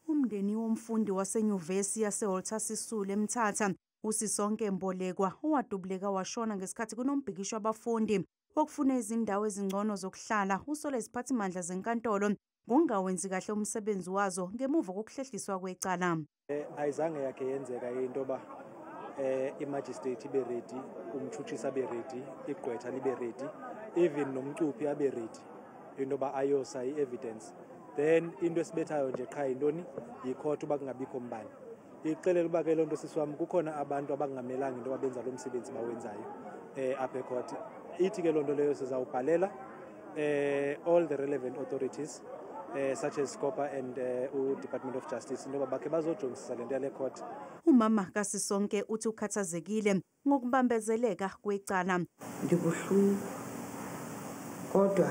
Umndeni womfundi waseNyuvesi yaseWalter Sisulu eMthatha, uSisonke Mbolekwa, owadubuleka washona ngesikhathi kunombhikisho wabafundi wokufuna izindawo ezingcono zokuhlala, usole iziphathimandla zenkantolo ngokungawenzi kahle umsebenzi wazo ngemuva kokuhlehliswa kwecala. Eh, ayizange yakhe yenzeka into yoba eh, imagistrate ibe redi, umtshutshisi abe redi, igqwetha libe redi, even nomcuphi abe redi. into yoba ayosa i-evidence then into esibethayo nje qha yintoni yikhotha uba kungabikho mbani ixelele uba ke loo nto sisi wam kukhona abantu abangamelanga into yoba benza lo msebenzi bawenzayo um apha ekhotha ithi ke loo nto leyo sizawubhalela um all the relevant authorities eh such as Scopa and eh, u Department of Justice into bakhe bazojongisisa lento yale court. Umama kasisonke uthi ukhathazekile ngokubambezeleka kwecala. Ndibuhlungu kodwa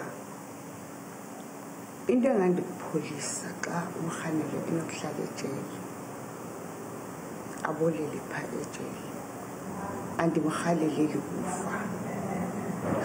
into engandikupholisa xa umrhanele enokuhlala ejele abolele pha ejele andimrhaleleli kufa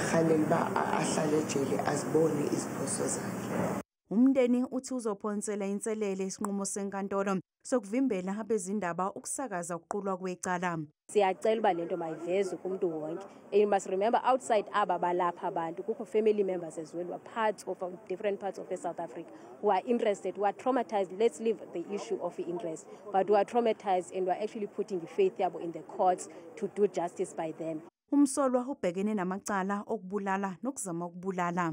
rhalela uba ahlale ejele azibone iziphoso zakhe Umndeni uthi uzophonsela inselele isinqumo senkantolo sokuvimbela abezindaba ukusakaza ukuqulwa kwecala. Siyacela uba lento mayivezwe kumuntu wonke. And you must remember outside aba balapha abantu kukho family members as well who are parts of um, different parts of South Africa who are interested, who are traumatized. Let's leave the issue of interest, but who are traumatized and who are actually putting the faith yabo in the courts to do justice by them. Umsolwa ubhekene namacala okubulala nokuzama ukubulala.